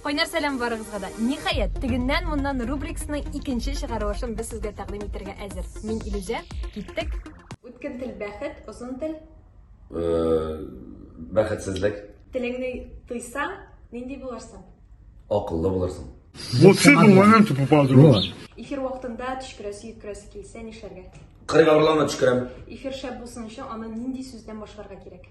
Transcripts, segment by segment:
Кайнар сәлам барыгызга да. Ниһаять, тегеннән-моннан рубрикасының икенче чыгарылышын без сезгә тәкъдим итәргә әзер. Мин Илүзә, киттек. Үткен тел бәхет, озын тел. Э, бәхетсезлек. Телеңне тыйсаң, нинди булырсың? Акыллы булырсың. Вот с этого момента попал дрон. Эфир вакытында төшкерәсе, йөткерәсе килсә нишләргә? Кырык авырлана төшкерәм. Эфир шәп булсын өчен аны нинди сүздән башларга кирәк?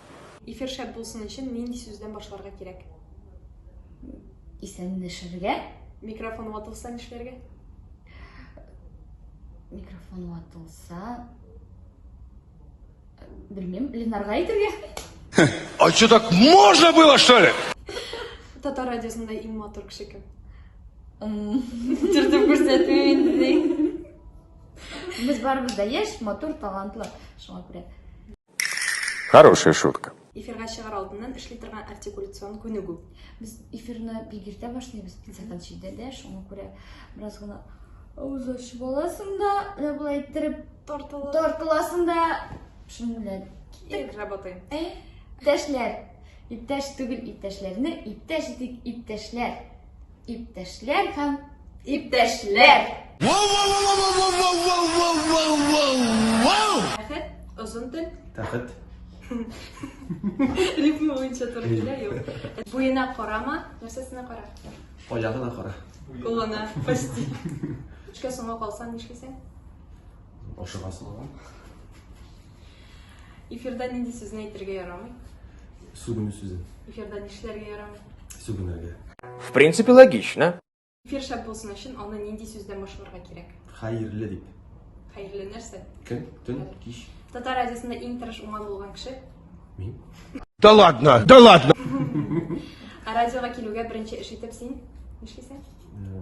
Эфир шәп булсын өчен нинди сүздән башларга кирәк? Исәнләшергә. Микрофон ватылса нишләргә? Микрофон ватылса... Белмим, Ленарга әйтергә. А что так можно было, что ли? Татар радиосында иң матур кеше кем? Төртеп күрсәтмим инде ди. Без барыбыз да яшь, матур, талантлы. Шуңа күрә. Хорошая шутка. Эфирга чыгар алдыннан эшли торган артикуляцион күнегү. Без эфирны бик иртә башлыйбыз, сәгать җидедә дә, шуңа күрә бераз гына авыз ачып аласың да, менә болай иттереп тартыласың. Тартыласың да, шуның белән киттек. Работаем. Э? Иптәшләр, иптәш түгел иптәшләрне, иптәш итик иптәшләр. Иптәшләр һәм иптәшләр! Тәхет, озын тел. Тәхет. Рифма буенча туры килә, юк. Буена карама, нәрсәсенә кара? Аягына кара. Кулына, почти. Эшкә соңга калсаң нишлисең? Ашыгасың. Эфирда нинди сүзне әйтергә ярамый? Сүгенү сүзе. Эфирда нишләргә ярамый? Сүгенергә. В принципе, логично. Эфир шәп булсын өчен аны нинди сүздән башларга кирәк? Хәерле дип. Хәерле нәрсә? Көн, төн, кич. Татар радиосында иң тырыш уңан булган кеше? Мин. Да ладно, да ладно. Радиога килүгә беренче эш итеп син нишлисең? Э,